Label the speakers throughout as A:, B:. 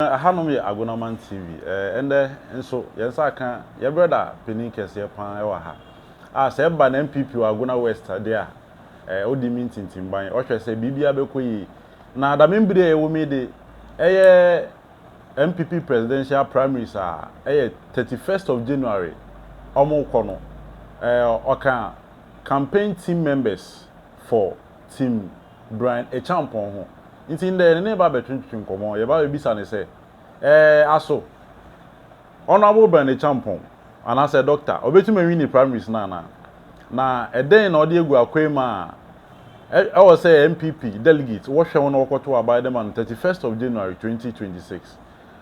A: Ɛhanom yɛ Agonaman TV. Ɛndɛ nso, yɛn nsa aka yɛn brɛda panin kɛseɛ pa ara wɔ ha, a sɛ ɛba na NPP wɔ Agona West deɛ a, ɔdi me ntintimban, ɔhwɛ sɛ biribiara bɛkɔ yie. Na dame bere a yɛwɔ mu yi de, ɛyɛ NPP Presidential Primaries a ɛyɛ thirty first of January wɔrekɔ no, ɔka Campaign Team Members for Team. Brian Acheampong ho. Ntsi ndɛ yɛnye no reba abɛtwetwe nkɔmbɔ. Yɛreba abebisa no sɛ, Ɛɛ, aso Honourable Brian Acheampong, anaasɛ Doctor, obetum ewin ne primaries no anaa? Na dɛn na ɔdze egu akwan mu a ɔwɔ sɛ NPP delegates wɔhwɛ ho na wɔkɔtow aba dze ma no thirty first of January twenty twenty six?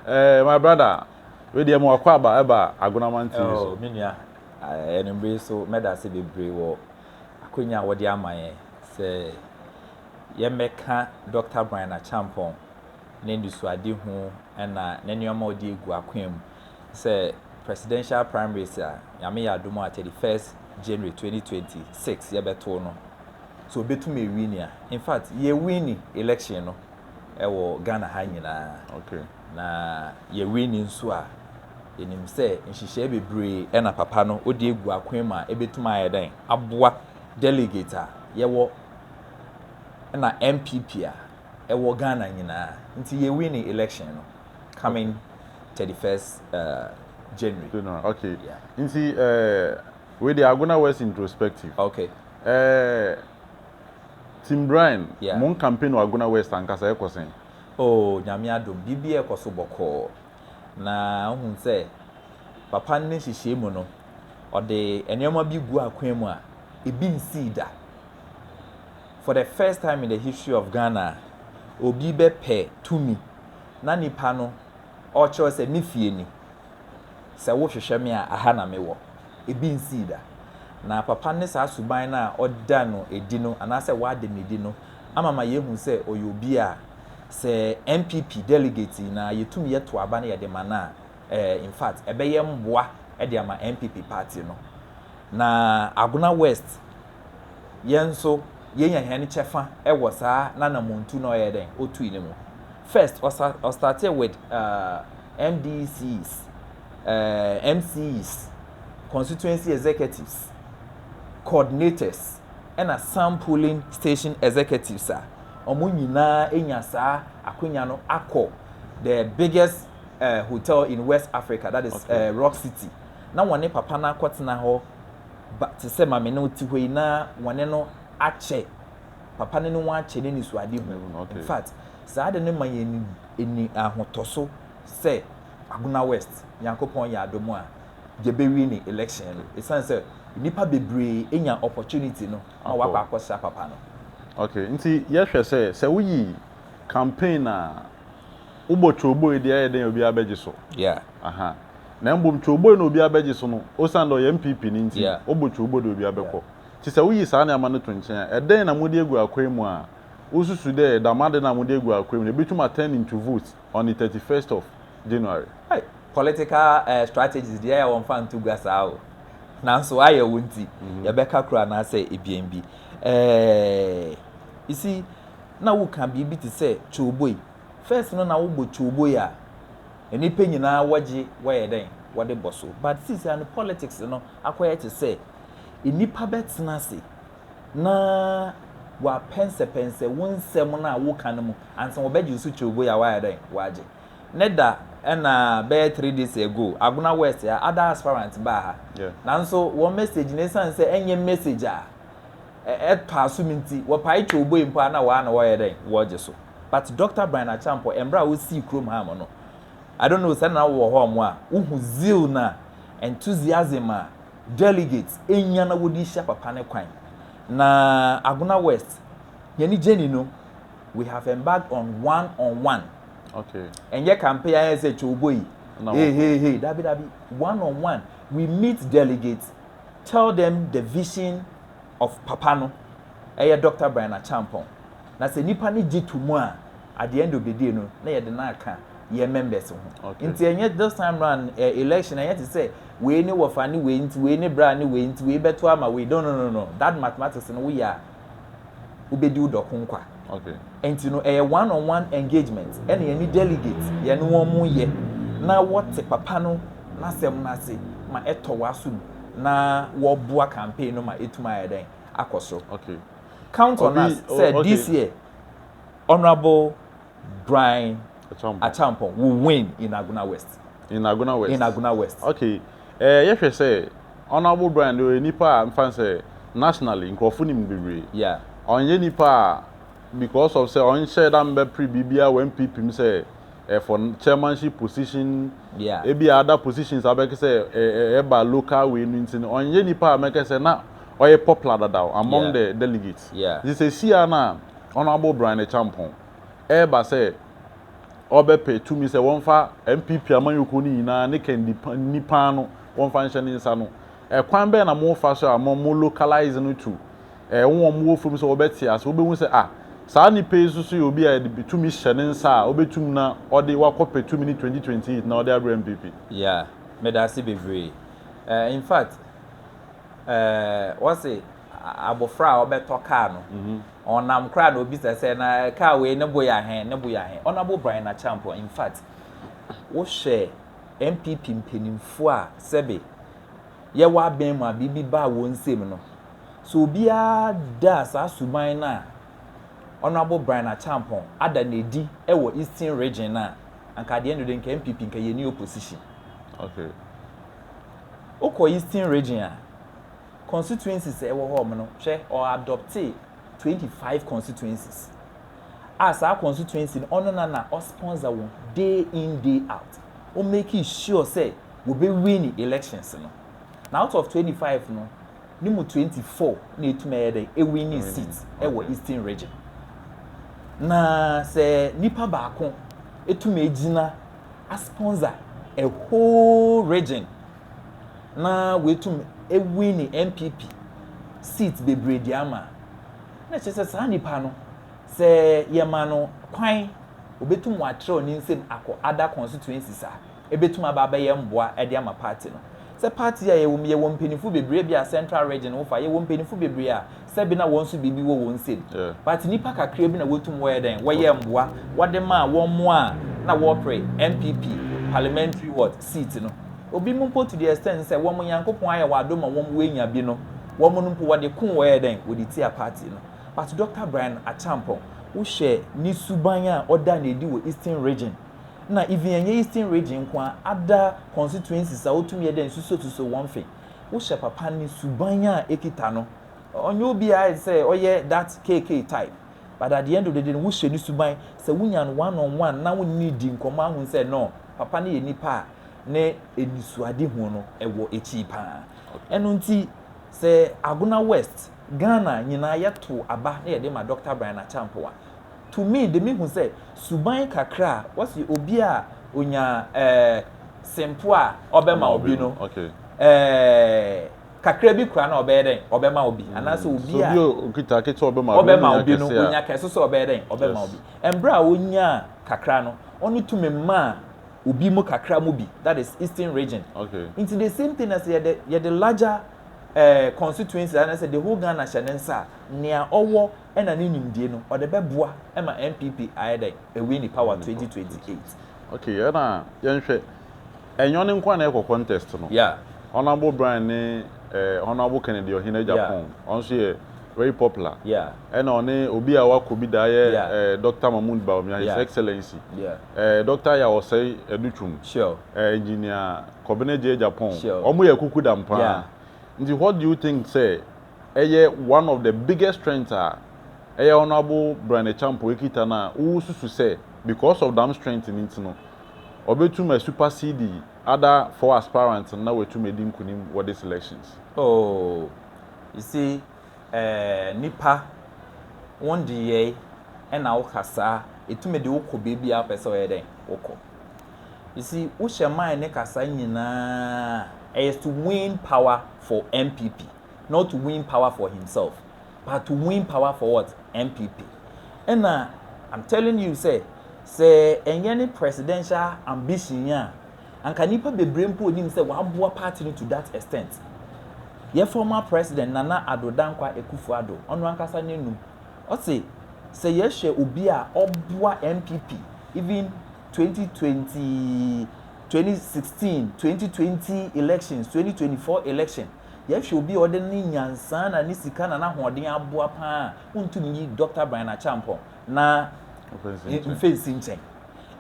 A: Ɛɛ, my brother, wei deɛ ma wakɔ aba ɛba Agonama Nti no so. Oh, me nua,
B: ɛnumere yi so mɛda ase bebree wɔ akwanya a wɔde ama yɛn sɛ yɛmmɛka Dɔkta Brian Acheampong n'anisoadehu na ne nneɛma a ɔde agu akwan mu sɛ Presidential Primaries a Nyame yɛ adom a 31st January 2026 yɛbɛto no sɛ ɔbɛtumi awini a. In fact, yɛwini election no wɔ Ghana ha nyinaa. Okay. Na yɛwe no nso a, yɛnim sɛ nhyehyɛe bebree na papa no de agu akwan mu a ebetumi ayɛ dɛn aboa delegate a yɛwɔ na NPP a ɛwɔ Ghana nyinaa. Nti yɛwe ne election no coming okay. 31st uh, January. January, okay. Yeah.
A: Nti uh, we the Agona West introspective. Okay. Uh, Tim Bryan, yeah. mon campaign wɔ
B: Agona West
A: ankasa ɛkɔ sɛn? Oh Nyame
B: adom biribiaa kɔ so bɔkɔɔ na wohun sɛ papa no ne nhyehyɛe mu no ɔde nnoɔma bi guu akwan mu a ebi nsii da. For the first time in the history of Ghana obi bɛpɛ tumi na nipa no ɔkyerɛw sɛ ne fie ni. Sɛ wohwehwɛ me a, aha na mewɔ. Ebi nsii da. Na Papa ne saa suban no a ɔda no adi no, anaasɛ wada no adi no, ama ma yɛahu sɛ ɔyɛ obi a sɛ NPP delegate nyinaa yɛtum yɛto aba na yɛde ma no a, eh, in fact, ɛbɛyɛ mmoa de ama NPP party no. Na Agona West yɛn nso yenya hɛn kyɛfa wɔ saa n'anamɔntu na ɔyɛɛ dɛn, otui no mu. First, ɔsa ɔstartee with uh, MDCs, uh, MCs, constituency executives, coordinators, ɛna some polling station executives a wɔn nyinaa enya saa akonya no akɔ the biggest uh, hotel in West Africa, that is okay. uh, Rock City, na wɔne papa no akɔtena hɔ ba te sɛ ma me ne wo te hɔ yi na wɔne no akyɛ, papa no ne wɔn akyɛ n'anisoadehu. In fact, saa ade no ma yɛn ani ahotɔso sɛ Agona West, Nyankopɔn yɛ adom a, yɛbɛwie ne election no ɛsiane sɛ nnipa bebree anya opportunity no ma wɔakɔ akɔsra papa no. Okay, nti
A: yɛhwɛ sɛ, sɛ woyi campaign a. Wo bɔ twooboi deɛ ɛyɛ dɛn obiara bɛgye so aha
B: na
A: mbom twooboi no obiara bɛgye so no osian dɛ ɔyɛ NPP no ntsi wo bɔ twoobo deɛ obiara bɛkɔ ntsi sɛ woyi saa nneɛma no to nkyen a ɛdɛn na mode agu akwan mu a wo susu dɛ dɛm ade no a mode agu akwan mu no ɛbɛtum a turn into vote on the thirty first of January. Hey!
B: Political eh, strategies deɛ yɛ wɔmfa nto gua saa o. Nanso ayɛ wo nti, mhm. yɛbɛka koro anaasɛ ebien bi. Eh, you see, na woka biribi te sɛ twooboi. First no na wo bɔ kyowboy a nnipa nyinaa wɔgye wɔyɛ dɛn wɔde bɔ so but seesei no politics no akɔyɛ te sɛ nnipa bɛtena ase na wɔapɛnsɛpɛnsɛ wo nsɛm no a woka no mu ansa wɔbɛgye nso kyowboy a wɔayɛ dɛn wɔagye ne da ɛna bɛyɛ three days ago Agona West ha ada aspirant baa ha nanso
A: wɔn
B: message no ɛsiane sɛ ɛnyɛ message a ɛtɔa so no nti wɔpae kyowboi mpo a na wɔa na wɔyɛ dɛn wɔgye so but Doctor Brian Acheampong ɛmberɛ a wosii kurom ha mo no I don't know sɛ na wowɔ hɔ mo a wohu zeal na enthusiasm a delegates enya na wɔde hyia papa no kwan na Agona West yɛne gyeni no we have embarked on one on one okay
A: ɛnyɛ campaign
B: ayɛ sɛ kyowboi hey hey hey dabi dabi one on one we meet delegates Tell them the vision of papa no ɛyɛ Doctor Brian Acheampong na sɛ nipa no gye to mu a at the end of the day no na yɛde no aka yɛn members ho okay. nti ɛnyɛ this time round uh, election ɛnyɛ te sɛ wei ne wɔfa ne wei nti wei ne bra ne wei nti wei bɛto ama wei no no no no that mathematics no woyɛ a wobɛdi wo dɔko nkwa. Ɛnti
A: no ɛyɛ
B: one on one engagement ɛna yɛne delegate yɛne wɔn mo yɛ na wɔte papa no n'asɛm no ase ma ɛtɔ w'asom na wɔboa campaign no ma ɛtumi ayɛ dɛn akɔ soro.
A: Count on us
B: sɛ this year Honourable Brian Acheampong. Acheampong will win in Agona West. In Agona West. In
A: Agona West.
B: Okay, eh,
A: yɛ hwɛ sɛ Honourable Brian de ɔyɛ nipa a nfa sɛ nationally nkurɔfo nim no bebree. Yeah. Ɔnyɛ
B: nipa a
A: because of sɛ ɔnhyɛ da mbɛ pre biribiara wɔ NPP mu sɛ eh, for chairmanship position, yeah. ebi a other
B: positions
A: a bɛkɛ sɛ eh, eh, ɛba local wei no nti no ɔnyɛ nipa a mɛkɛ sɛ na ɔyɛ popular dadaw among yeah. the delegates. Yeah. Nti sɛ si a
B: na.
A: Honourable Brian Acheampong reba sɛ ɔrebɛpɛ tumi sɛ wɔmfa NPP amanyɔkuo no nyinaa ne Kandy nipa no wɔmfa nhyɛ ne nsa no, ɛkwan bɛn na mofa so a mo mo localise no to eh, wɔn a wɔwɔ fam sɛ wɔbɛte ase, wɔbɛhu sɛ ah, saa nipa yi nso so yɛ obi a yɛde tumi hyɛ ne nsa a ɔbɛtum na ɔde wakɔpɛ tumi no 2028 na ɔde abrɛ NPP. Yeah, meda
B: ase bebree. Eh, in fact, Wɔse abofra a ɔbɛtɔ kaa no, ɔnam koraa na obisa sɛ, na kaa wei ne bo yɛ ahe, ne bo yɛ ahe? Honourable Brian Acheampong, in fact, wohwɛ NPP mpanyimfo a sɛbe yɛwɔ abɛn mu a biribi baa wɔn nsam no, sɛ obiara da saa suban no a Honourable Brian Acheampong ada no adi wɔ Eastern Region no a, anka adeɛ no de, anka NPP, anka yɛnni opposition. Okay. Wokɔ Eastern Region a, constituencies a ɛwɔ hɔ nom no, hwɛ, ɔadɔptee twenty five constituencies a saa constituency no ɔno na na ɔsponsor wɔn day in day out. Wɔmake sure sɛ wɔbɛwini elections no. Na out of twenty five no, ne mu twenty four na ɛtumi ayɛ dɛn ɛwini seat wɔ Eastern Region. Na sɛ nipa baako ɛtumi gyina asponsor a whole region na woetum ewini NPP seats beberee dze ama a, nna kyerɛ dɛ saa nyimpa no, sɛ yɛma no kwan obotum ɔatserɛw ne nsamu akɔ other constituencies a, ebotum aba abɛyɛ mboa dze ama party no. Sɛ party yi a yɛwɔ mu, yɛwɔ mpanyimfo beberee, bi a central region wofa, yɛwɔ mpanyimfo beberee a sɛ bi na wɔn nso biribi wɔ wɔn nsam. But nnipa kakraa bi na wɔtum wɔyɛ dɛn, wɔyɛɛ mmoa, wɔde maa wɔn mmoa a na wɔrepre NPP parliamentary what, seat no. Obi mu mpo to the extent sɛ wɔn Nyankopɔn ayɛ wɔn adom ma wɔn wɔanya bi no, wɔn no mpo wɔde koo wɔyɛɛ dɛn, wɔde tiaa party no. But Doctor Brian Acheampong, wohwɛ ne suban a ɔda no adi wɔ Eastern Region, na even ɛnyɛ Eastern Region nko ara, other constituencies a ɔtum yɛ dɛn susuosusuo wɔn fe. Wohyɛ papa no suban a ɛkita no. Ɔnyɛ obiara a ɛsɛ sɛ ɔyɛ that KK type but at the end of the day no wohyɛ no suban. Sɛ wonya no one on one na wone no di nkɔmmɔ ahunu sɛ no papa no yɛ nipa a ne anisoadehu no ɛwɔ akyiri paa. Ɛno nti sɛ Agona West, Ghana nyinaa yɛtow aba na yɛde ma Doctor Brian Acheampong a, to me de mehu sɛ suban kakra a wɔse obi a onya eh, sempo a ɔbɛma wo bi no eh, kakra bi koraa na ɔbɛyɛ dɛn? Ɔbɛma wo bi. Anaasɛ obi a ɔbɛma
A: wo bi no, onya
B: kɛse so a ɔbɛyɛ dɛn? Ɔbɛma wo bi. Ɛmberɛ a ɔnyaa kakra no, ɔno to me maa obi mo kakra mo bi, that is eastern region. Nti the same
A: thing na sɛ
B: yɛde yɛde larger eh, constituency anaasɛ the whole Ghana hyɛ ne nsa a, nea ɔwɔ ɛna ne nimdie no ɔde bɛboa ma NPP ayɛ dɛn ɛwin ne power twenty twenty eight. Ok ɛna
A: yɛn hwɛ ɛnyɛ ɔne nkoa na ɛkɔ contest no honourable
B: Brian ne
A: ɛɛ honourable Kennedy Ɔhene Agyapong ɔno nso yɛ very popular ɛna ɔne
B: obi
A: a wakɔ bi da yɛ ɛɛ Doctor Mahmood Bawumia his excellency ɛɛ Doctor
B: Ayaw Osei
A: Adu Twum ɛɛ engineer Kɔbena Gyei Agyapong wɔn yɛ akuku dam
B: paa
A: nti
B: what do you
A: think sɛ ɛyɛ one of the biggest strength a ɛyɛ Honourable Brian Acheampong ɛkita no a wo susu sɛ because of dam strength no nti no ɔbɛtum a supersede other four aspirants no na watum adi nkunim wɔ this elections? Oh, you
B: see eh, nipa, wo ngyeyɛe ɛna wo kasaa ɛtumi de wo kɔ baabi a wo pɛ sɛ ɔyɛ dɛn wo kɔ. You see, wo hyɛ mind ne kasaa nyinaa a, ɛyɛ to win power for NPP. not to win power for himself but to win power for what NPP ɛna I'm telling you sɛ sɛ ɛnyɛ ne presidential ambition yi a anka nipa bebree mpo onim sɛ waboa party no to that extent yɛ former president Nana Addo Dankwa Akufo-Addo ɔno ankasa n'anum ɔse sɛ yɛhwɛ obi a ɔboa NPP even 2020 2016 2020 elections 2024 election. Yɛhwɛ obi a ɔde ne nyansaa na ne sika na n'ahoɔden aboa pa ara a, wontu no nyi Dɔkta Brian Acheampong na mfe nsi nkyɛn.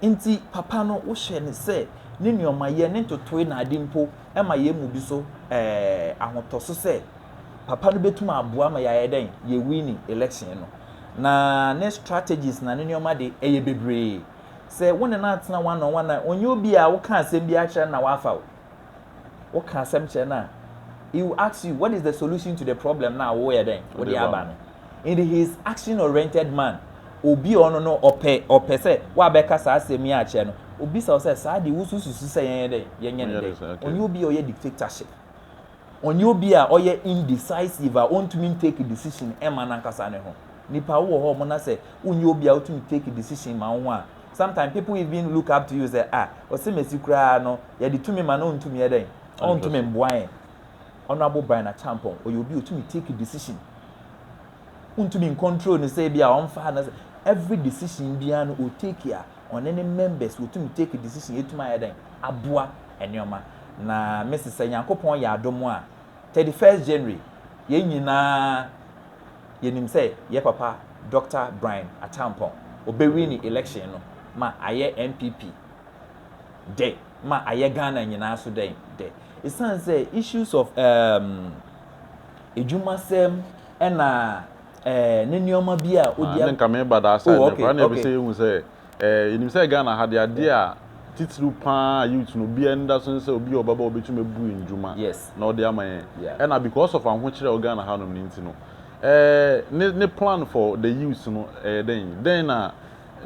B: Enti papa no, wohyɛ no sɛ ne nneɛmayɛ, ne ntotoe na ade mpo, ɛma yɛn mu bi so ahotɔso sɛ papa no bɛtumi aboa ma yɛayɛ dɛn? Yɛwini election no. Na ne strategies na ne nneɛma de, ɛyɛ bebree. Sɛ wo ne no atena one on one a, ɔnyɛ obi a woka asɛm biara kyerɛ no na wafa wo. Woka asɛm kyerɛ no a, he will ask you, what is the solution to the problem na woyɛ dɛn? Wode aba no. And he is action-oriented man. Obi a ɔno no ɔpɛ ɔpɛ sɛ woabɛka saa asɛm yi akyerɛ no. Obisa wo sɛ, saa de wosususu sɛ yɛnyɛ dɛn? Yɛnyɛ no dɛn? Ɔnyɛ obi a ɔyɛ dictatorship. Ɔnyɛ obi a ɔyɛ indecisive a ontumi ntake decision mma n'ankasa ne ho. Nnipa, wowɔ hɔ mo na sɛ wonyɛ obi a wotumi take decision ma wo ho a, sometimes people even look up to you sɛ ah Ɔsɛmasi koraa no yɛde tumi ma no ontumi yɛ dɛn? Ontumi mboa yɛn. Honourable Brian Acheampong ɔyɛ obi a otumi take decision. Wontumi ncontrol no sɛ ebia ɔmfa no sɛ every decision biara no otake a ɔne ne members wɔtumi take decision ɛtumi ayɛ dɛn aboa nnoɔma na mese sɛ Nyankopɔn yɛ adom a 31st January yɛn nyinaa yɛnim sɛ yɛ papa Doctor Brian Acheampong ɔbɛwini election no ma ayɛ NPP dɛ ma ayɛ Ghana nyinaa so dɛn dɛ ɛsiane sɛ issues of um, adwumasɛm ɛna ɛɛ ne nneɛma bi a odi. Ɛnna nka meba that side no koraa
A: na ɛpɛ sɛ ehu sɛ ɛɛ yɛnim sɛ Ghana ha deɛ adeɛ a titiriw pa ara youth no obiara ani da so ne sɛ obi a ɔbɛba a obetumi abu nnwuma na ɔde ama yɛn ɛnna because of ahokyere a ɛwɔ Ghana hanom no nti no ɛɛ ne ne plan for the youth no ɛyɛ dɛn dɛn na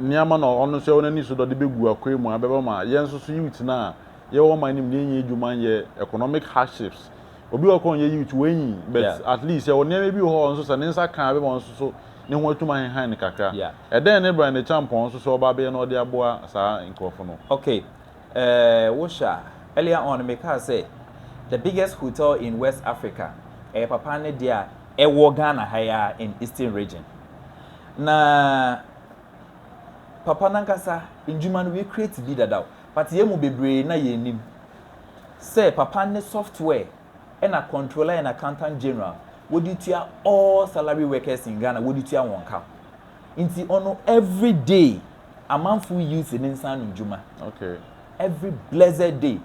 A: nneɛma na ɔno nso ɛwɔ n'ani so dɛ ɔde begu akwan mu a ɛbɛma ma yɛn nso so youth no a yɛwɔ ɔman no mu no yɛnyɛ adwuma nyɛ economic hardships Obi wɔ hɔ koraa a ɔnyɛ youth, wanyin, but at least sɛ ɔwɔ nneɛma bi wɔ hɔ a ɔno nso sɛ ne nsa ka a ɛbɛma ɔno nso so ne ho atum ahenhan no kakra. Ɛdɛn ne Brian Acheampong nso sɛ ɔba abɛyɛ na ɔde aboa saa nkurɔfo no? Ok, eh,
B: wohwɛ a, earlier on no mekaa sɛ the biggest hotel in West Africa, ɛyɛ papa no deɛ a ɛwɔ Ghana ha yi ara in Eastern Region. Na papa no ankasa ndwuma no, wecreate bi dada o, but yɛn mu bebree na yɛnnim. sɛ papa ne software ɛna controller and accountant general wɔde tua all salary workers in Ghana wɔde tua wɔn ka nti ɔno every day amanfo youth ne nsa ano dwuma okay
A: every
B: blessed day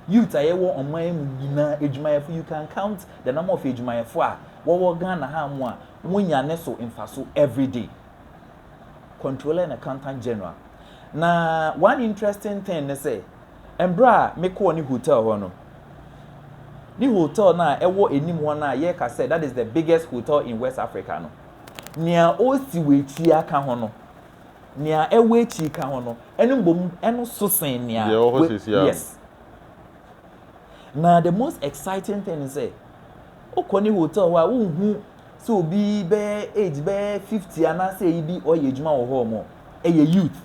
B: youth a yɛwɔ ɔman mu nyinaa adwumayɛfo you can count the number of adwumayɛfo a wɔwɔ Ghana ha mu a wonya ne so mfaso every day controller and accountant general na one interesting thing ne sɛ Mberɛ a me kɔɔ ne hotel hɔ no, ne hotel no a ɛwɔ anim hɔ no a yɛka sɛ that is the biggest hotel in West Africa no, nea ɔsi wɔ akyia ka ho no, nea ɛwɔ akyiri ka ho no, ɛno mbom ɛno so sen nea Deɛ ɛwɔ hɔ wɔ- sesia no. yes. Na the most exciting thing ne sɛ, wokɔ ne hotel hɔ a wonhu sɛ obi bɛyɛ age bɛyɛ 50 anaasɛ ayi bi ɔyɛ adwuma wɔ hɔ mɔ, ɛyɛ youth.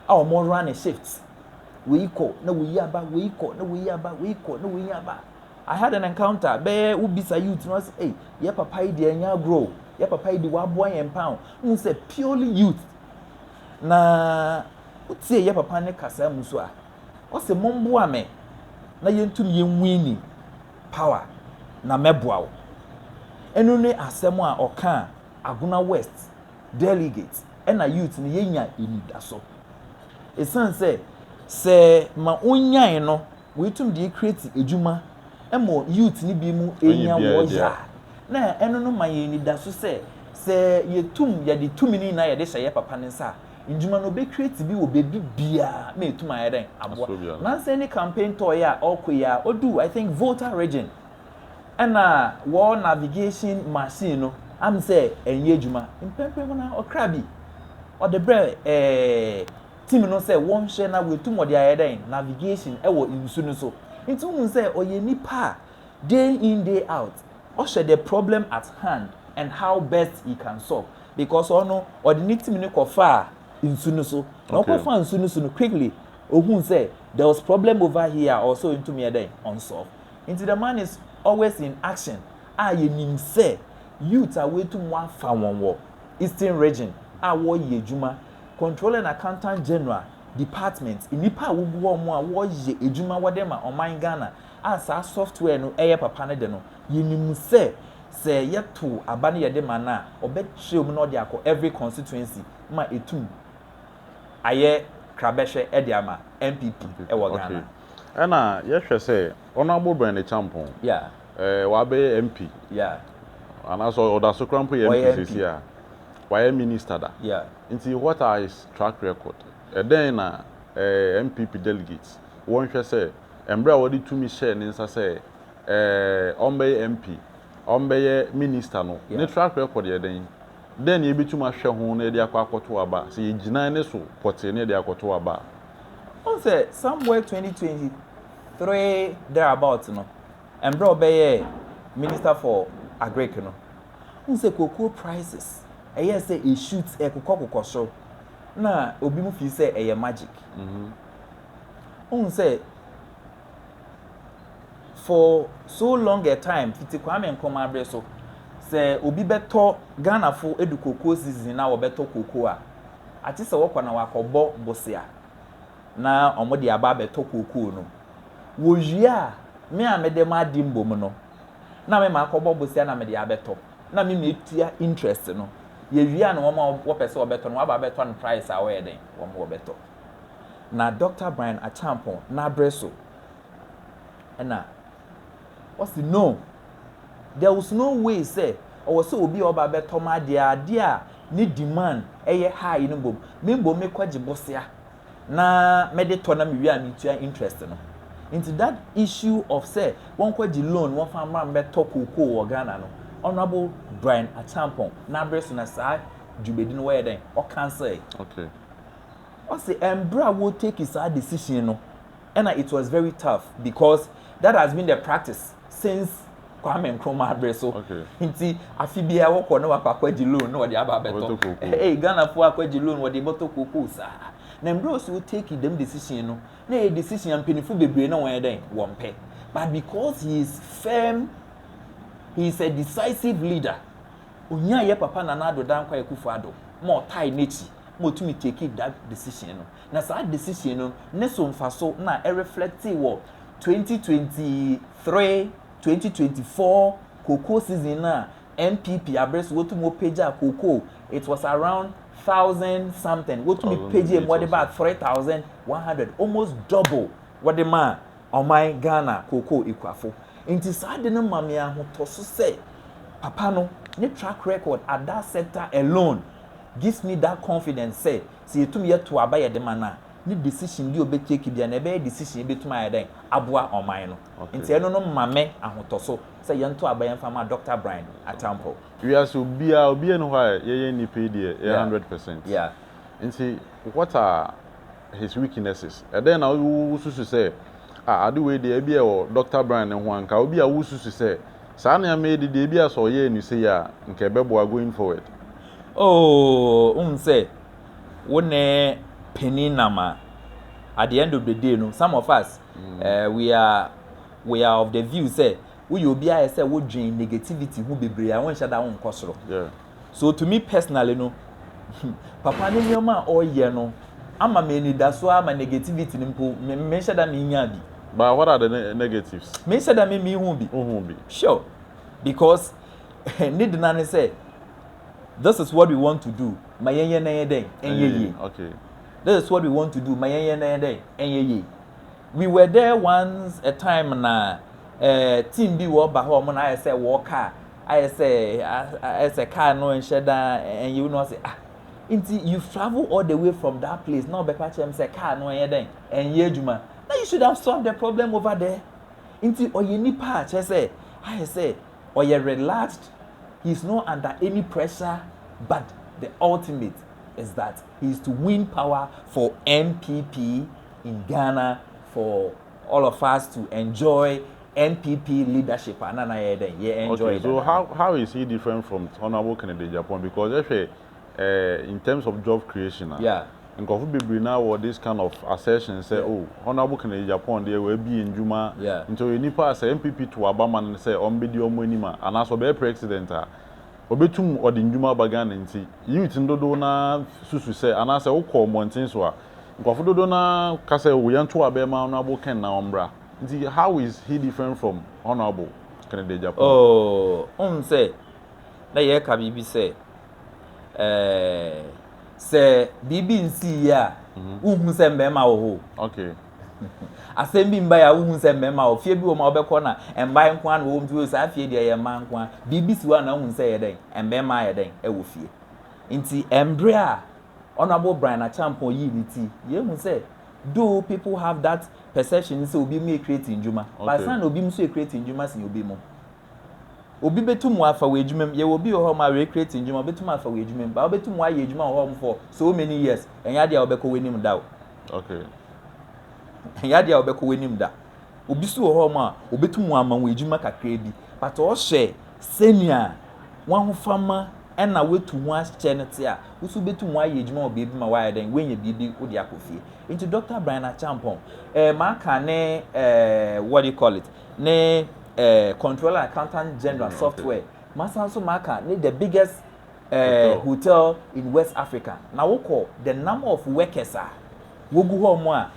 B: a wɔn running shifts wei kɔ na wei aba wei kɔ na wei aba wei kɔ na wei aba I had an encounter bɛyɛ wobisa youth no sɛ ei yɛ papa yi deɛ ɛnyɛ agorɔ o yɛ papa yi de waboa yɛn paa o n sɛ purely youth na wotie yɛ papa ne kasa mu so a ɔsɛ momboa me na yɛntum yɛnwini power na mɛboa wo ɛno ne asɛm a ɔka a agona west delegates na youth no yɛnya anidaso ɛsiane sɛ sɛ ma wonyae no wɔatum deɛ create adwuma ɛmɔ youth no bi mu ɛnya wɔya na ɛno no ma yɛn anidaso sɛ sɛ yɛtum yɛde tumi no nyinaa yɛde hyɛ yɛ papa no nsa a ndwuma no ɔbɛ create bi wɔ baabi biara na ɛtum ayɛ dɛn aboa nansɛ ne campaign tour yɛ a ɔkɔ yi a ɔdu I think Volta region na wɔ navigation machine no am sɛ ɛnyɛ adwuma. Mpɛmpɛn mu no ɔkra bi ɔde brɛ ɛɛ team no sɛ wɔnhwɛ na wɔatum ɔde ayɛ dɛn navigation ɛwɔ nsu no so. Nti wohu sɛ ɔyɛ nipa a day in day out ɔhwɛ the problem at hand and how best he can solve because ɔno ɔde ne team no kɔfaa nsu no so. Na okay. ɔkɔfaa nsu no so no quickly ohun sɛ there was problem over here a ɔsɛ ɔntumi yɛ dɛn ɔnsolve. Nti the man is always in action a yɛnim sɛ youth a wɔatum wɔafa wɔn wɔ Eastern Region a wɔreyɛ adwuma, Controller and Accountant General Department, nnipa a wɔgu hɔ a wɔreyɛ adwuma wɔde ma ɔman Ghana a saa software no yɛ papa no de no, yɛnim sɛ sɛ yɛtow aba no yɛde ma no a, ɔbɛkyerɛw mu na ɔde akɔ every constituency ma ɛtum ayɛ krabɛhwɛ de ama NPP wɔ Ghana. Ɛna yɛhwɛ
A: sɛ Honourable Bernard Acheampong, ɛɛ
B: wabɛyɛ
A: MP,
B: anaasɛ
A: ɔdaso koraa mpo yɛ MP seesei a, wayɛ Minister da, nti what
B: are his
A: track record? Ɛdɛn na ɛɛ NPP delegates wɔnhwɛ sɛ mmerɛ a wɔde tumi hyɛɛ ne nsa sɛ ɛɛ ɔmbɛyɛ MP, ɔmbɛyɛ Minister no, ne track record yɛ dɛn? Dɛn na yebetumi ahwɛ ho na yɛde akɔ akɔtow aba, sɛ yegyina ne so pɔtee na yɛde akɔtow aba a? Wohu sɛ
B: somewhere twenty twenty three there about no, mbrɛ ɔbɛyɛɛ minister for agric no, wohu sɛ cocoa prices ɛyɛɛ sɛ e shoot, ɛkokɔ kokɔ sor, na obinom feel sɛ ɛyɛ magic. Wohu sɛ. for so long a time fiti Kwame Nkrumah bere so, sɛ obi bɛtɔ Ghanafo edu cocoa season na wɔbɛtɔ cocoa a, akye sɛ wɔkɔ na wɔakɔbɔ bosea na wɔde aba abɛtɔ cocoa no. Wɔwie a, me a mede m'ade mbom no, na me makɔbɔ bosea na mede abɛtɔ, na me metua interest no. Yɛwie a na wɔn a wɔpɛ sɛ wɔbɛtɔ no wɔaba abɛtɔ no price a ɔyɛ dɛn, wɔn wɔbɛtɔ. na Dɔkta Brian Acheampong n'abre so na ɔse no, there was no way sɛ ɔwɔ sɛ obi a ɔba bɛtɔ m'adeɛ adeɛ a ne demand yɛ high no mbom me mbom me kɔ gye bosea na me de tɔ na me wie a me tua interest no. Nti that issue of sɛ wɔnkɔ gye loan wɔnfa mmra mbɛtɔ cocoa wɔ Ghana no, Honourable Brian Acheampong n'abre so na saa dwumadi no wɔyɛ dɛn, ɔcancel. Okay.
A: Ɔse
B: ɛmbrɛ a wo take saa decision no ɛna it was very tough because that has been the practice since Kwame Nkrumah bere so nti
A: afe
B: biara wɔkɔ na wakɔ akɔgye loan na wɔde aba abɛtɔ ɛɛ Ghanafoɔ akɔgye loan wɔde bɔtɔ kokoo saa na mbrɛ ɔsi o take dɛm decision no na ɛyɛ decision a mpanyinfo bebree na wɔn yɛ dɛn wɔn pɛ but because he is firm he is a decisive leader onyaa yɛ papa Nana Addo Dankwa Akufo Addo ma ɔtae n'akyi. ma otumi takee that decision no, na saa decision no ne so mfaso na ɛ reflectee wɔ twenty twenty three, twenty twenty four cocoa season no a NPP abre so wotumi wopagyaa cocoa, it was around thousand something, wotumi pagyee mu wɔde baa three thousand one hundred, almost double wɔde maa ɔman Ghana kookoo ekuafo. Enti saa ade no ma me ahotɔso sɛ papa no ne track record at that sector alone gives me that confidence sɛ sɛ yɛtum yɛ to aba yɛde ma no a, ne decision bi a ɔbɛ take biara no ɛbɛyɛ decision a ɛbɛtum ayɛ dɛn aboa ɔman no. Enti ɛno no ma me ahotɔso sɛ yɛnto aba yɛmfa mma Doctor Brian Attampong. Wiase obiara
A: obiara nni hɔ a yɛyɛ nnipa yi deɛ yɛ hundred percent.
B: Nti
A: what are his weaknesses. Ɛdɛn na wususu sɛ, Ah, ade wei deɛ, ebia ɛwɔ Dɔkta Bryan no ho anka? Obi a wususu sɛ, Saa nneɛma yi de deɛ, ebia sɛ ɔyɛɛ no sei a, anka ɛbɛboa going forward? Oh,
B: wohu sɛ, wo ne panin nam a, at the end of the day no, some of us, eh, we are, we are of the view sɛ, woyɛ obi a ayɛ sɛ wodwen negativity ho bebree a, wonhyɛ da wonkɔ soro. Yeah. So to
A: me
B: personally no, papa ne nneɛma a ɔyɛ no ama me anidaso ara ma negativity no mpo me menhyɛ da menya bi. But what are the
A: negatives? Menhyɛ da me mehu
B: bi. Ohu bi. Sure. Because ne dena ne sɛ this is what we want to do ma yɛnyɛ na yɛ dɛn ɛnyɛ yie. Okay.
A: This is what we
B: want to do ma yɛnyɛ na yɛ dɛn ɛnyɛ yie. We were there once a time na uh, team bi wɔ ba hɔ ɔmo na ayɛ sɛ wɔɔka a. Ayɛ sɛ ayɛ sɛ car no nhyɛ da ɛnyɛ wo na ɔsɛ ah nti you travel all the way from that place na ɔbɛka kyerɛ me sɛ car no ɛnyɛ dɛn ɛnyɛ adwuma na you should have solved the problem over there nti ɔyɛ nipa a kyerɛ sɛ ayɛ sɛ ɔyɛ relaxed he is not under any pressure but the ultimate is that he is to win power for NPP in Ghana for all of us to enjoy NPP leadership a na na yɛyɛ dɛn yɛ enjoy
A: okay so how how is he different from honourable Kennedy Agyapong because ɛhwɛ eh, eh, in terms of job creation a yeah. nkurɔfo
B: bebree na
A: wɔ this kind of assertion sɛ yeah. oh honourable Kennedy Agyapong deɛ wɔabie ndwuma yeah. nti ɔyɛ nipa a sɛ NPP to aba ma no sɛ ɔmbɛdi ɔmo
B: anim
A: a anaasɛ ɔbɛyɛ president a obetum ɔde ndwuma aba Ghana ntsi, youth no dodow no ara susu sɛ anaasɛ wokɔ mbɔntsen so a, nkorɔfo dodow no ara ka sɛ oh yɛntow abɛn ma Honourable Ken na ɔmbra. Ntsi how is he different from Honourable Kennedy Agyapong? Oh, wohu sɛ
B: na yɛreka biribi sɛ eh, sɛ biribi nsii yie a, wonhu sɛ mmarima wɔ hɔ o. Okay.
A: Asɛm
B: bi mbae a wohu sɛ mmarima wɔ fie bi wɔ mu a wobɛkɔ na mmaa nko ara na wɔwɔ mu nti saa fie deɛ ɛyɛ mmaa nko ara. Biribi si hɔ a na wohu sɛ ɛyɛ dɛn, mmarima ayɛ dɛn wɔ fie. Nti mberɛ a Honourable Brian Acheampong yii ne ti yɛhu sɛ though people have that perception sɛ obi mu yɛ create ndwuma but ansa na obi mu nso yɛ create ndwuma sen obi mu. Obi bɛtum w'afa wɔ adwuma mu, yɛwɔ obi wɔ hɔ nom a recreate ndwuma ɔbɛtum afa wɔ adwuma mu, but wobɛtum w'ayɛ adwuma wɔ hɔ nom for so many years, ɛnyɛ adeɛ a wobɛkɔ w'anim da o.
A: Okay.
B: Ɛnyɛ adeɛ a wobɛkɔ w'anim da. Obi so wɔ hɔ nom a ɔbɛtum w'ama wɔ adwuma kakra bi, but ɔhwɛ sɛnea w'ahofama ɛna w'atu ho ahyɛ no te a, wo so wobɛtum w'ayɛ adwuma wɔ baabi ma w'ayɛ dɛn, w'anya biribi wode akɔ fie. Nti Doctor Brian Acheampong, eh, m'aka ne eh, what do you call it, ne eh, Controller and Accountant General Software. Masan nso maka ne the biggest eh, hotel in West Africa. Na wokɔ the number of workers a wogu hɔ mo a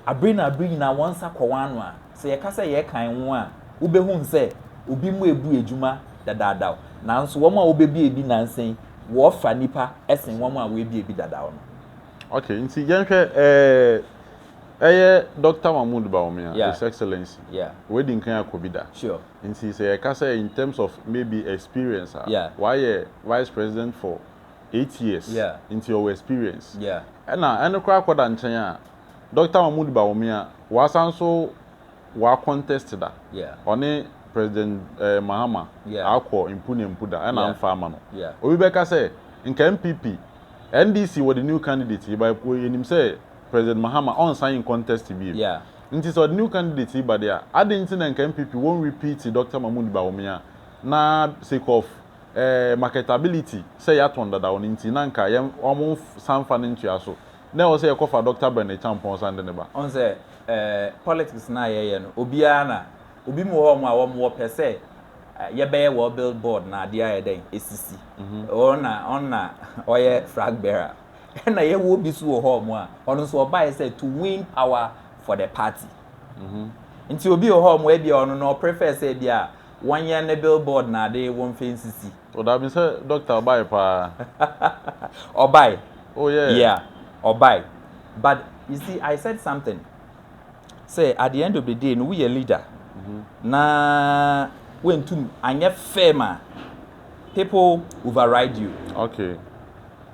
B: abere na abere nyinaa wɔn nsa kɔ wɔn ano a, sɛ yɛka sɛ yɛrekan wo a, wobɛhu sɛ obi mu ebu adwuma dadaadaw. Nanso wɔn a wobebie bi nansa yi, wɔfa nnipa sen wɔn a wɔabie bi dadaw no. Okay, nti
A: yɛnhwɛ eh, Ɛyɛ Doctor Mahmoud Bawumia, His Excellency. W'adi nkan
B: akɔ bi da.
A: Nti sɛ
B: yɛka sɛ
A: in terms of maybe experience a, w'ayɛ
B: Vice
A: President for eight years, nti ɔwɔ
B: experience.
A: Ɛna ɛno
B: koraa kɔ da
A: nkyɛn a, Doctor Mahmoud Bawumia, w'asan nso w'a contest da. Ɔne
B: President
A: Mahama akɔ mpu ne mpu da, ɛna anfa amma no. Obi bɛka sɛ, nka NPP, NDC wɔde new candidate yi ba, yɛnim sɛ President Mahama ɔnsan ncontest bio. Nti sɛ ɔde
B: new
A: candidate yi ba de a, aden nti na nka NPP won repeat Doctor Mahmoud Bawumia na sake of eh, marketability sɛ yɛatɔn dadaw no nti na nka yɛn wɔn nsan nfa no ntoa so. Na ɛwɔ sɛ yɛkɔ fa Doctor Bernard Champon san de no ba. Ɔn sɛ eh,
B: politics no a yɛyɛ no, obiara na, obi mo wɔ hɔ mo a wɔn wɔ pɛ sɛ yɛbɛyɛ wɔn bill board na adeɛ ayɛ dɛn, ɛsisi. Ɔn na, ɔn na ɔyɛ frag bearer. Ɛna yɛwɔ bi so wɔ hɔ ɔmo a ɔno nso ɔbaeɛ sɛ to win power for the party. Nti obi wɔ hɔ ɔmo ebia ɔno no ɔprefer sɛ ebia wɔnyɛ ne billboard na ade wɔnfa nsisi. O daabi sɛ
A: doctor ɔbae paa.
B: Ɔbae. Oh yeah.
A: Yeah
B: ɔbae but you see I said something sɛ at the end of the day no wo yɛ leader na wɛntum anyɛ firm a people override you. Okay.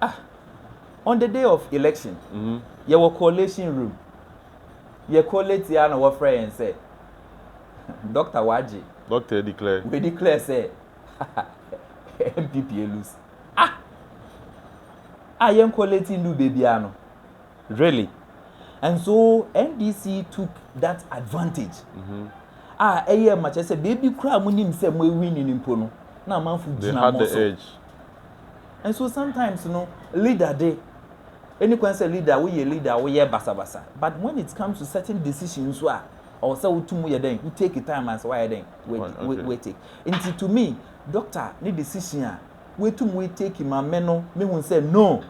A: Ah,
B: on the day of election, yɛwɔ collation room, yɛ collate ara na wɔfrɛ yɛn sɛ, Doctor wagye. Doctor declare. We
A: declare sɛ,
B: NPP alose. Ah! A yɛn collate ndu baabiara no. Really? And so NDC took that advantage. A ɛyɛɛ ma kyerɛ sɛ baabi koraa a monim sɛ moawini no mpo no, na amanfo gyina mo so. They had the edge. Nso sometimes no leader de ɛni kwan sɛ leader wo yɛ leader wo yɛ basa basa but when it comes to certain decision nso a ɔwɔ sɛ wo tumu yɛ dɛn wo take time as wayɛ dɛn we take nti to me doctor ne decision a we tumu we take ma me no me hu sɛ no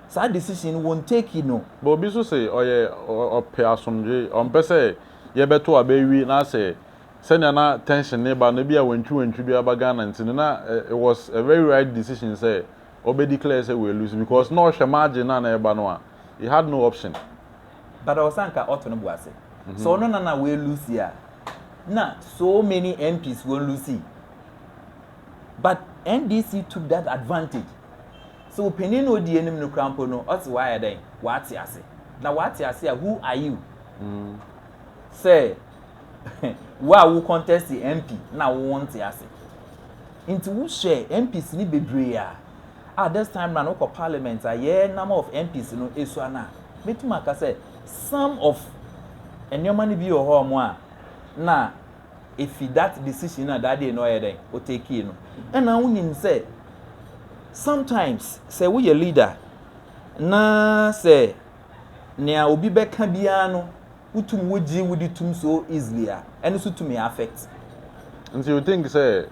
B: saa decision no wɔn take no. But obi nso se ɔyɛ
A: ɔpɛ asomdwe ɔmpɛ sɛ yɛ bɛto abɛ wi na sɛ sɛnea na tension no reba no ebia wantwi wantwi biara ba Ghana nti no na it was a very right decision sɛ ɔbɛ declare sɛ wɛlusu because na ɔhwɛ margin no a na ɛreba no a he had no option. But ɔwɔ sɛ
B: anka ɔto no bo ase sɛ ɔno na na wɛlusi a na so many MPs wɔn lusi but NDC took that advantage sɛ ɔpanin na ɔdi anim no kura mpo no ɔte wayɛ dɛn wate ase na wate ase a who are you sɛ Wo a wo contest MP na wo wonte ase. Nti wo hwɛ MPs ni bebree a, a this time round wokɔ parliament a yɛ number of MPs no esua no a, metum aka sɛ some of nneɛma no bi wɔ hɔ ɔmo a na efi that decision na that day na ɔyɛ dɛn o take no. Ɛna wo nim sɛ sometimes sɛ woyɛ leader na sɛ nea obi bɛka biara no wo tum wo gye wo di tum so easily a ɛno so tumi affect. Nti
A: you think sɛ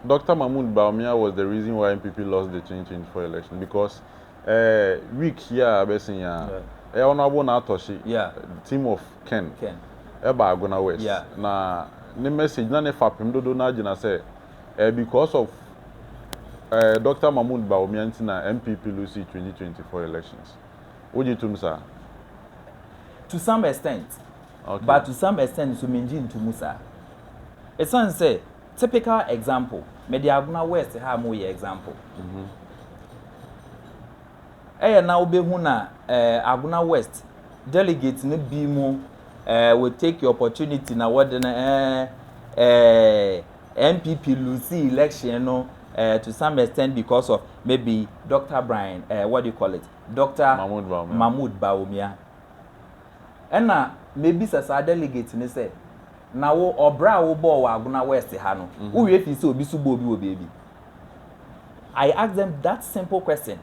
A: Doctor Mahmood Bawumia was the reason why NPP lost the change change four election because eh week yi a abɛsen yi ara eh Honourable Naatohye team of Ken ɛbaa Agona West na ne message na ne fapem dodow no ara gyina sɛ eh because of eh Doctor Mahmood Bawumia nti na NPP loose twenty twenty four elections. Wogye tom saa?
B: To some extent, Okay. but to
A: some extent
B: nso mengye nto mu saa. Esiane sɛ, typical example, mede Agona West ha a moreyɛ example. Ɛyɛ na wobɛhu na eh, Agona West delegate no bi mu eh, will take your opportunity na wɔde no eh, eh, NPP losee election no uh, to some extent because of maybe Dr. Brian, uh, what do you call it? Dr. Mahmoud Bawumia. Mahmoud Bawumia. Ɛna mebisa saa delegate ne sɛ, na wo ɔbra a wobɔɔ wɔ Agona West ha no, mhm. wowie fi sɛ obi so bɔ obi wɔ baabi. I ask them that simple question.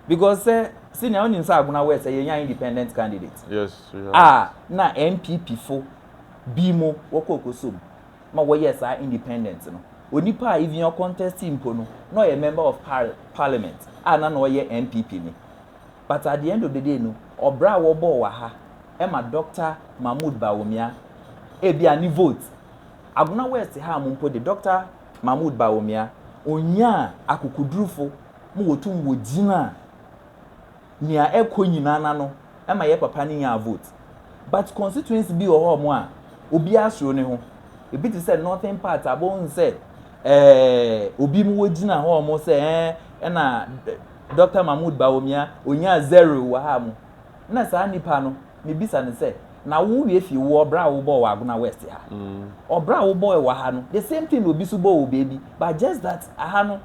B: Because sɛ eh, senior wonim sɛ Agona West eh, yɛnya independent candidate. Yes, a
A: na
B: NPP fo bi mu wɔkɔ okosom. ma wɔyɛɛ saa independent no, onipa a even ɔcontest-ii mpo no, na ɔyɛ member of parliament a na na ɔyɛ NPP ni. But at the end of the day no, ɔbra a wɔbɔɔ wɔ ha ma Doctor Mahmood Bawumia, ebia ne vote, Agona West ha mo mpo de, Doctor Mahmood Bawumia, onyaa akokodurufo ma wɔtum wɔgyinaa nea ɛkɔ nyinaa no ano ma yɛ papa no nyaa vote but constituency bi wɔ hɔ ɔmo a obiara suro ne ho ebi te sɛ northern part a bohu sɛ ɛɛ obi mu wogyina hɔ ɔmo sɛ ɛɛ ɛna Dr. Mahmood Bawumia onyaa zero wɔ ha mu na saa nipa no mebisa no sɛ na wo wie fi wo ɔbra a wobɔɔ wɔ Agona West ha ɔbra a wobɔɔ wɔ ha no the same thing na obi so bɔɔ wɔ baabi but just that aha no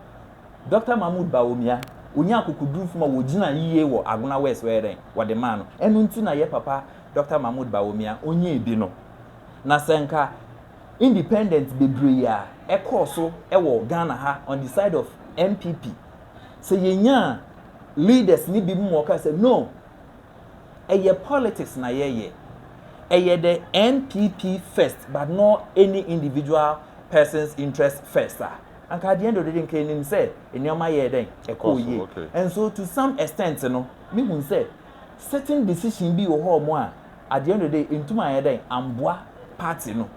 B: Dɔkta Mahmood Bawumia, onyaa akokodurufo ma wogyinaa yiye wɔ Agona West hɔ, ɛyɛ dɛn? Wɔde maa no. Ɛno nti na yɛ papa Dɔkta Mahmood Bawumia, onyaa bi no. Na sɛ anka independent bebree a ɛkɔɔ so wɔ Ghana ha on the side of NPP, sɛ yenyaa leaders no binom ma wɔkaa sɛ, No, ɛyɛ politics na yɛyɛ. Ɛyɛ the NPP first but not any individual person's interest first a, Anka at the end of the day nka enim sɛ nneɛma yɛɛ dɛn, ɛkɔɔ yie. And so to some extent no, me hu sɛ certain decision bi wɔ hɔ a at the end of the day entum anyɛ dɛn amboa party no.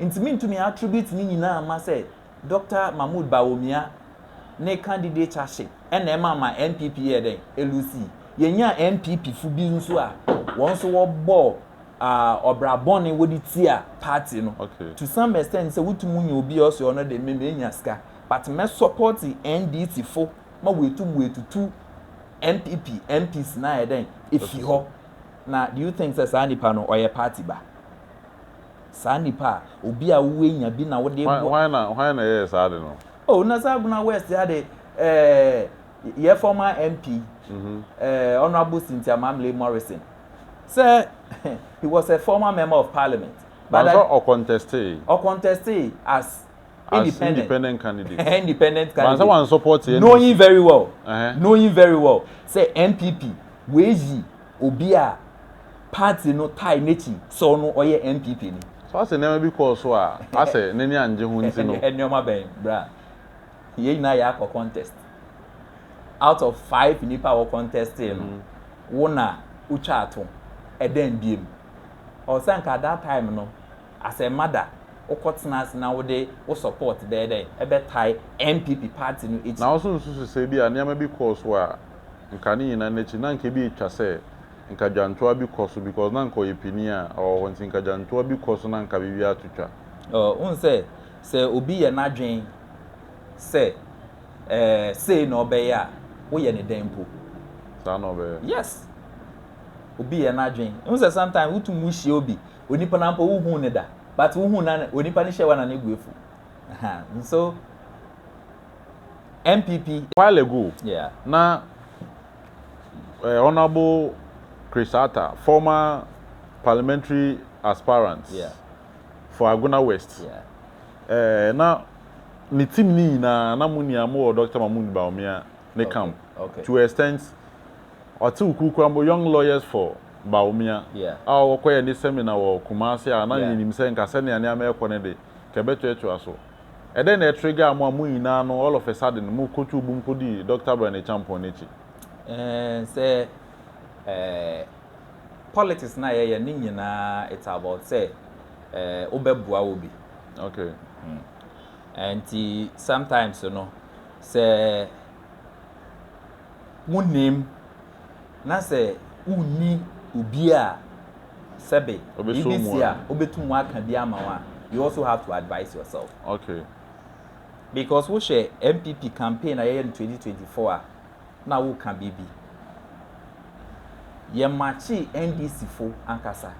B: Nti me ntumi attribute ne nyinaa mma sɛ Doctor Mahmood Bawumia ne candidaturship ɛna ɛma ma NPP yɛɛ dɛn, eloosii. Yɛnyaa NPP fo bi nso a wɔn nso wɔbɔɔ. ah, ɔbra bɔne wode tia party no okay. to some extent sɛ wotum nya obi a ɔsɛ ɔno de me menya sika but mɛ support NDC fo ma wɔatum wɔatutu MPP MPs na ayɛ dɛn efi hɔ na do you think sɛ saa nipa no ɔyɛ party ba saa nipa a obi a wowenya bi na wode bɔ hwan na hwan na ɛyɛ
A: saa de no oh na saa guna
B: west ya de eh, yɛ former MP mm -hmm. eh, honorable Cynthia Mamle Morrison Sɛ he was a former member of parliament. But sɛ ɔ
A: contestee. Ɔ contestee as
B: independent candidate. Ɛhɛn
A: independent candidate. But sɛ
B: wan support NDC. Knowing
A: very well.
B: Ɛhɛn. Knowing very well sɛ NPP w'ayi obi a party no tie n'akyi sɛ ɔno ɔyɛ NPP ni. So asɛ nneɛma bi kɔɔ
A: so a asɛ n'ani angye ho nti no. Nneɛma bɛn bra?
B: Yɛn nyinaa yɛ akɔ contest. Out of five nipa a wɔ contest no, mm. wo na wotwa ato. Ɛdɛn biem. Ɔsɛ nka that time no, as a mother, wokɔ tena ase na wode wo support bɛyɛ dɛn? Ɛbɛtae NPP party no akyi. Na wo so nsusu sɛ
A: bi
B: a
A: nneɛma bi kɔɔ so a nka ne nyinaa n'akyi na nka ebi etwa sɛ nka dwantoa bi kɔ so because na nka ɔyɛ pini a ɔwɔ hɔ nti nka dwantoa bi kɔ so na nka biribi ato twa. Ɔɔ, wohu sɛ
B: sɛ obi yɛ n'adwen sɛ, ɛɛ, sei na ɔbɛyɛ a, woyɛ ne dɛn mpo? Saa na
A: ɔbɛyɛ. Yes.
B: Obi yɛ n'adwen. Ehu sɛ sometimes wotum wo hyia obi, onipa no ampo wohuu ne da, but wohuu na onipa no hyɛ wa na ne bu afu. Aha, nso NPP.
A: While ago, yeah. na uh, Honorable Chris Atta, former parliamentary aspirant, yeah. For Agona West eh, na ne team no nyinaa na mo nua mo wɔ Doctor Mahmood Bawumia ne camp to a extent ɔtew kuw koraa mpo Young Lawyers for Bawumia a ɔwɔ kɔyɛ ne seminar wɔ Kumasi a na yenim sɛ nka sɛnea nneɛma rekɔ no de nka ɛbɛtoatoa so. Ɛdɛn na ɛtregaa mo a mo nyinaa no all of a sudden mo kotoo bum kodii Doctor Abrane Acheampong no akyi? Eh, sɛ
B: eh, Politics na yɛyɛ ne nyinaa it's about sɛ eh, wo bɛ boa wo bi. Okay. Hmm. Nti sometimes no sɛ mo nim na sɛ wonni obi a sɛbe biribi si a wobɛtum aka bi ama wo a you also have to advise yourself. Okay. Because wohwɛ MPP campaign a yɛyɛ no 2024 a. na wo ka biribi. Yɛ makyee NDC fo ankasa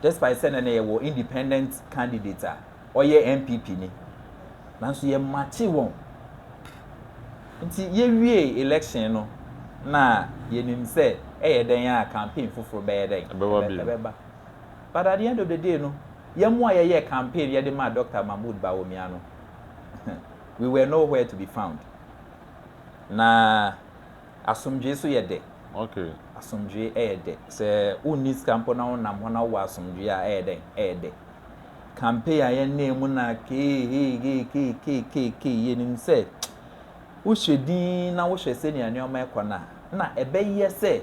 B: despite sɛ nɛnɛ yɛ wɔ independent candidate a ɔyɛ NPP ni nanso yɛ makyee wɔn nti yɛ wie election no na yɛ nim sɛ ɛyɛ dɛn a campaign foforo bɛyɛ dɛn ɛbɛba but at the end of the day no yɛ mo a yɛ yɛ campaign yɛ de ma Doctor Mahmoud Bawumia no we were nowhere to be found. na asomdwoe nso yɛ dɛ. Okay.
A: Asomdwoe yɛ
B: dɛ. Sɛ wonni sika mpo na wonam hɔ na wowɔ asomdwoe a, ɛyɛ dɛn? Ɛyɛ dɛ. Campaign a yɛnam mu na keeheekeekeekeekee, yɛnim sɛ wohwɛ din na wohwɛ sɛnea nneɛma rekɔ no a, na ɛbɛyɛ sɛ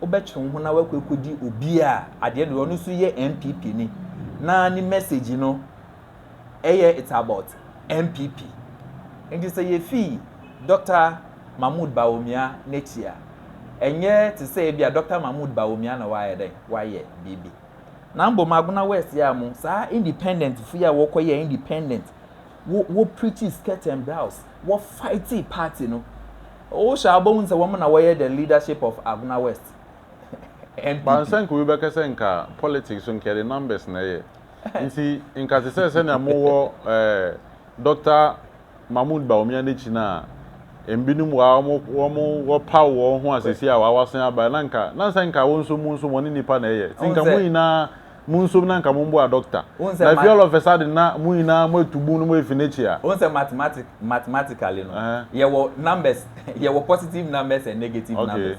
B: wobɛtwe wo ho na woakɔ akɔdi obi a adeɛ no ɔno nso yɛ NPP ni na ne message no ɛyɛ it's about NPP. Nti sɛ yɛfii Doctor Mahmood Bawumia n'akyi a, ɛnyɛ te sɛ ebia Doctor Mahmood Bawumia na wayɛ dɛn, wayɛ biribi. Na mbom Agona West yi a mo, saa independent fo yi a wɔkɔyɛɛ independent, wɔ, wɔ preachii skirt and blouse, wɔ fightii party no, wohwɛ a wobɛhu sɛ wɔn na wɔyɛ the leadership of Agona West
A: NPP. Bansɛ nka obi bɛka sɛ nka politics nka yɛde numbers na ɛyɛ. Ntsi nka tse sɛ sɛnea mowɔ ɛɛ Dɔkta Mahmoud Bawumia n'ekyi no a, mbinom wɔ ha wɔn wɔn wɔpaw wɔn ho a sesei a wɔawasen aba na nka na nsɛ nka wo nso mo nso wɔne nipa na ɛyɛ. Ntsi nka mo nyinaa mo nsom na nka momboa Dɔkta. Na efi all of a sudden na mo nyinaa moetu bun no moefi n'ekyi a. Wohu sɛ mathematic
B: mathematically no, yɛwɔ numbers yɛwɔ positive numbers and negative numbers.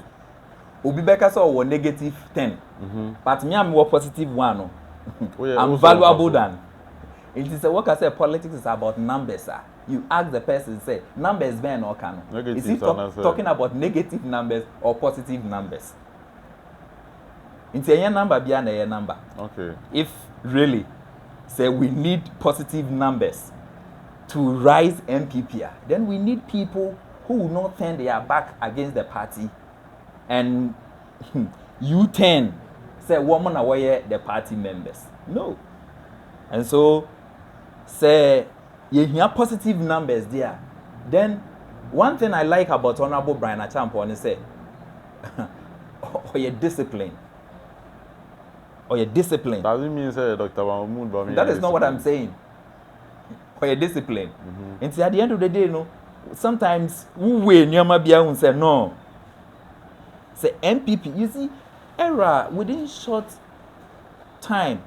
B: obi bɛka sɛ ɔwɔ negative ten but me a mewɔ positive one no i'm valuable than nti sɛ wɔka sɛ politics is about numbers a you ask the person sɛ numbers bɛn na ɔka no is he talking about negative numbers or positive numbers nti ɛnyɛ number bia na ɛyɛ number okay if
A: really
B: sɛ we need positive numbers to rise mpp a then we need people who will not turn their back against the party and you turn sɛ wɔn na wɔyɛ the party members no and so sɛ yɛhia positive numbers deɛ a then one thing i like about honourable brian achampɔ ne sɛ ɔyɛ discipline ɔyɛ discipline. does it mean sɛ dr
A: mahmood bami that is not what i'm saying.
B: ɔyɛ discipline mm-hmm. nti at the end of the day no sometimes wo wei nneɛma bi ahun sɛ no sɛ npp you see era within short time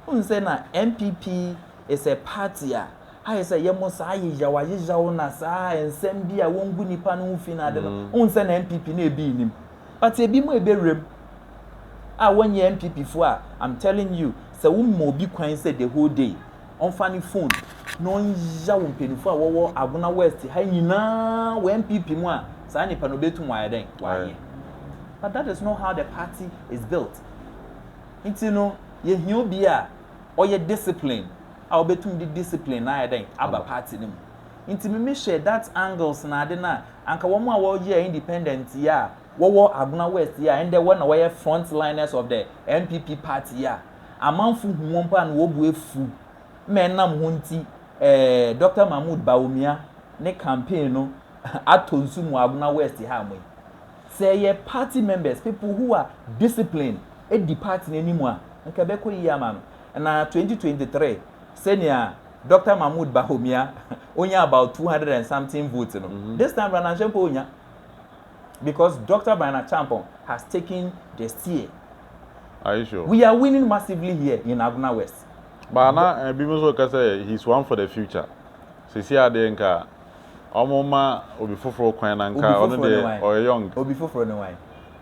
B: n sɛ na npp is a party a ayɛ sɛ yɛ mo saa yeyaw ayeyaw na saa nsɛm bi a wɔngu nipa no ho fi na ade no n mm. sɛ na npp na ebi nim but ebi mu ebe rem a wɔnyɛ npp fo a i'm telling you sɛ wo ma obi kwan sɛ the whole day ɔmfa ne phone na ɔnyiya wo mpanyinfoɔ a wɔwɔ Agona West ha nyinaa wɔ NPP mu a saa nipa no obetum wayɛ dɛn wayɛ but that is not how the party is built nti no yɛhia obi a ɔyɛ discipline a obetum de discipline na ayɛ dɛn aba party no mu nti mimi hyɛ that angles na ade na anka wɔn a wɔyɛ independent yɛ a wɔwɔ Agona West yi a ndɛ hɔn na wɔyɛ front liners of the NPP party yi a amanfo hu hɔn mpo a na hɔn bo efuw ma enam hɔn ntsi eh Doctor Mahmood Bawumia ne campaign no atɔ nsu mu wɔ Agona West ha mo yi. Sɛ eyɛ party members, people who are disciplined edi party no enyim a nka ebɛkɔ yie ama no. Na twenty twenty three sɛnea Doctor Mahmood Bawumia onyaa about two hundred and something votes no, this time around annhyɛ mpo onnya. because Doctor Brian Acheampong has taken the steer. Are you
A: sure? We are winning massively
B: here in Agona West. But na
A: ebinom nso ka sɛ he's one for the future. Sisi adeɛ nka ɔmo ma obi foforɔ kwan na nka ɔno deɛ ɔyɛ young. Obi foforɔ ne wan?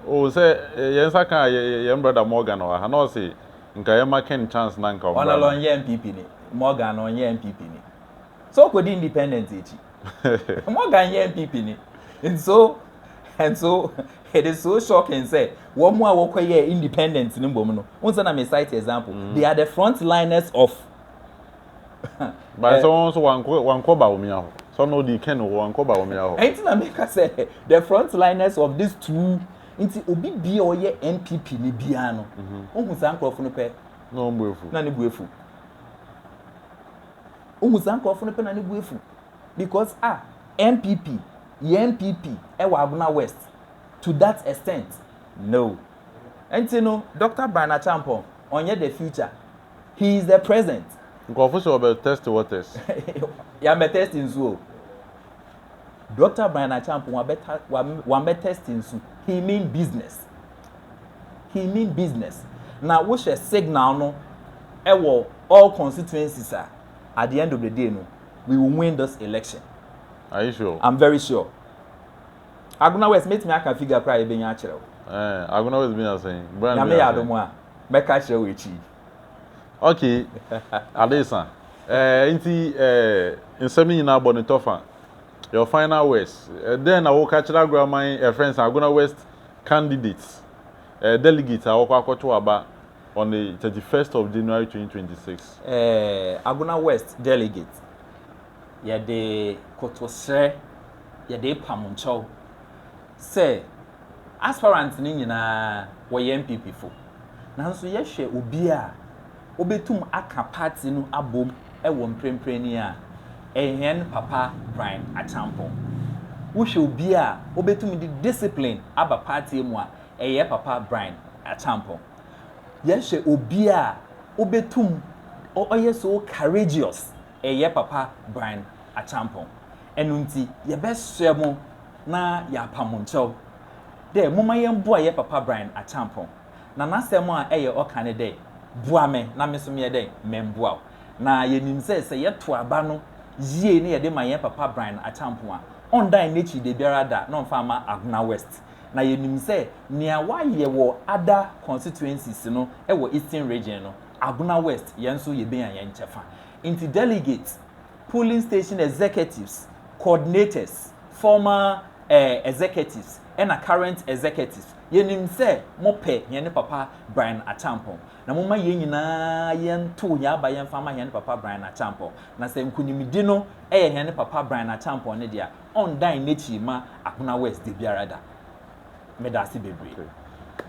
B: Oh sɛ
A: yɛn nsa ka yɛn brother Morgan wɔ ha na ɔse nka yɛma Ken chance na nka ɔmmra no. Ɔno ɔnyɛ NPP ni,
B: Morgan no ɔnyɛ NPP ni. So ɔkɔdi independent akyi. Morgan yɛ NPP ni and so and so it is so shocking sɛ wɔn a wɔkɔ yɛ independent no mbom no n sɛ na me cite example mm. they are the front liners of. Bàtà
A: wọn nso wankɔ wankɔ Bawumia hɔ sọ na odi kɛn hɔ wankɔ Bawumia hɔ. Ɛnti na mi ka sɛ
B: the front liners of these two nti obi bia ɔyɛ NPP ni bia no ohun mhm. saa nkorɔfo no pɛ. Na ɔn bu efu. Na ne
A: bu efu.
B: Wohu saa nkurɔfo no pɛ na ne bo afu because ah NPP yɛ NPP wɔ Agona West to that extent no nti no Doctor Brian Acheampong ɔnyɛ the future he is the present. Nkurɔfo sɛ wɔbɛ
A: test waters. Yɛammɛ
B: test nsu o. Doctor Brian Acheampong wabɛ ta wam wambɛ test nsu he mean business. he mean business na wohwɛ signal no ɛwɔ all constituencies a at the end of the day no we will win this election Are you sure?
A: I'm very sure
B: Agona West mɛtumi aka figure koraa yɛbɛnya akyerɛ wo eh, Agona West bɛnya
A: sɛn? Nyame yɛ adom a
B: mɛka akyerɛ wo akyi Okay,
A: Adesa eh, nti eh, nsɛm no nyinaa bɔ ne tɔfa Your final words, Dɛn na woka kyerɛ aguaman, yɛfrɛ no sɛ Agona West candidates, delegates a wɔkɔ akɔto aba on the thirty first of January twenty twenty six? Agona
B: West delegates, yɛde kotosrɛ, yɛde repam nkyɛw sɛ aspirants no nyinaa wɔyɛ NPP fo. Nanso yɛhwɛ obi a. wobetum aka party no abom wɔ mprempren ni a, ɛyɛ hɛn papa Brian Acheampong. Wohwɛ obi a obetum dze discipline aba party mu a, ɛyɛ papa Brian Acheampong. Yɛhwɛ obi a obetum ɔyɛ so courageous, ɛyɛ papa Brian Acheampong. Ɛno ntsi yɛbɛserɛ mo na yɛapa mo nkyɛw dɛ momma yɛmboa yɛ papa Brian Acheampong. Na n'asɛm a ɛyɛ ɔka ne dɛ, Boa me na me so meyɛ dɛn memboa wo? Na yenim sɛ, sɛ yɛto aba no yie na yɛde ma yɛn papa Brian Acheampong a, ɔnndan n'ekyir dabiara da na ɔmmfa mma Agona West. Na yenim sɛ nea wɔayɛ wɔ ada constituencies no wɔ Eastern Region no, Agona West, yɛn nso yebenya yɛn kyɛfa. Ntsi delegates, polling station executives, coordinators, former eh, executives, na current executives, Yenim sɛ mopɛ hɛn papa Brian Acheampong, na momma hɛn nyina yɛntow hɛn aba yɛmfa mma hɛn papa Brian Acheampong, na sɛ nkunyimdi no yɛ hɛn papa Brian Acheampong ne dze a, ɔnndan n'ekyir mma Akona West dabiara da. Meda ase beberee.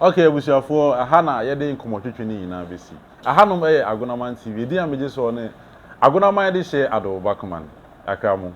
B: Okay abusuafoɔ,
A: ɛha na yɛde nkɔmmɔtwetwe no nyinaa bɛsi. Ɛhanom yɛ Agonaman TV, edin a megye soɔ ne Agonaman de hyɛ Adooba Command. Yɛakra mo.